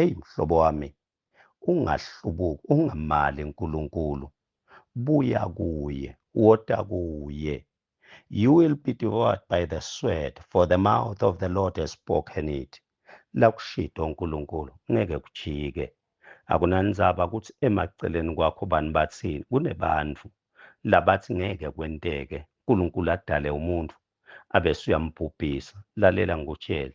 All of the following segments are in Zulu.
Eyi mhlobo wami, ungahlubuki, ungamali uNkulunkulu. Buya kuye, wota kuye. You will be devoured by the sword, for the mouth of the Lord has spoken it. Lakushito uNkulunkulu, ngeke kujike. Akunandzaba kutsi emaceleni kwakho bani batsini, kunebantfu labatsi ngeke kwenteke, Nkulunkulu adale umuntfu, abese uyambhubhisa. Lalela ngikutjele,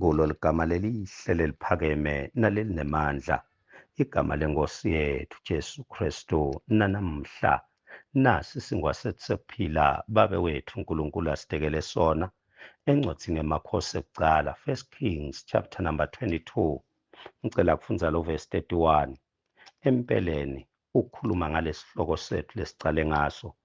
kulo ligama lelihle leliphakeme nalelinemandla igama lenkosi yethu Jesu Kristu nanamhla nasi singwasethisephila babe wethu uNkulunkulu asitekele sona encwadini yamakhosi ekucala first kings chapter number 22 ngicela kufundza lo verse 31 empeleni ukhuluma ngalesihloko sethu lesicale ngaso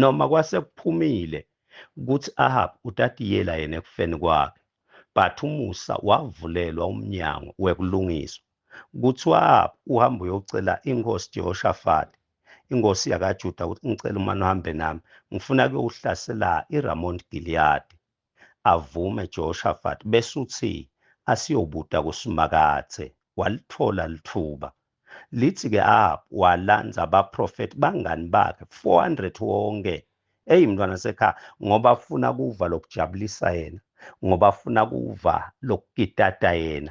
noma kwase kuphumile kuthi Ahab utatiyela yena ekufeni kwakhe but umusa wavulelwa umnyango wekulungiswa kuthi uAhab uhamba uyocela inkosi Jehoshafati inkosi yakaJuda ukuthi ngicela umane uhambe nami ngifuna kuyowuhlasela iRamont Gilead Avume Jehoshafati bese uthi asiyobuta kuSimakadze. Walitfola litfuba. Litsi ke Ahab walandza baprofethi bangani bakhe 400 wonke. Eyi mntwana sekhaya ngoba afuna kuva lokujabulisa yena ngoba afuna kuva lokukitata yena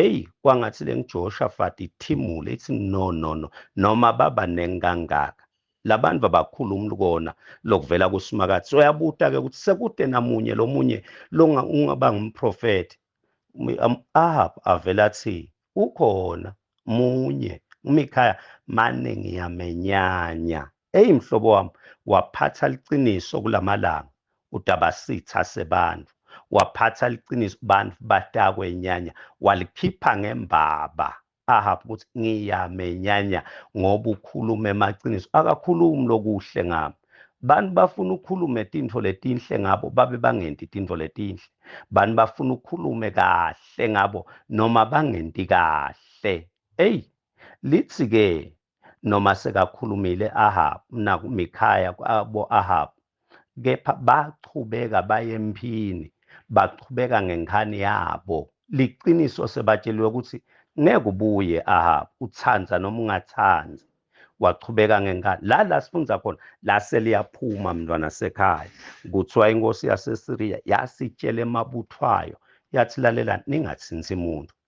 Eyi kwangathi le ngiJoshafati ithimule ithi no no no noma baba nenkangaka labantu abakhulu umlukona lokuvela kuSimakade soyabuta ke ukuthi sekude namunye lomunye longa ungaba ngumprofeti Ahab avela athi ukhona munye uMikhaya mane ngiyamenyanya Eyi mhlobo wami waphatha liqiniso kulamalanga utabasitha sebantu waphatha liqiniso bantu batakwe nyanya walikhipha ngembaba Ahab ukuthi ngiyame nyanya ngoba ukhulume emaqiniso akakhulumi lokuhle ngami bantu bafuna ukhulume tintfo letinhle ngabo babe bangenti tintfo letinhle bantu bafuna ukhulume kahle ngabo noma bangenti kahle eyi lithi-ke noma sekakhulumile Ahab naku Mikhaya kwabo Ahab kepha bachubeka baye emphini bachubeka ngenkhani yabo liqiniso sebatsheliwe ukuthi ngeke ubuye Ahab uthanda noma ungathandi wachubeka ngenkani la la sifundza khona la seliyaphuma mntwana sekhaya kuthiwa inkosi yasesiriya yasitshela emabuthwayo yathi lalela ningathinsi muntu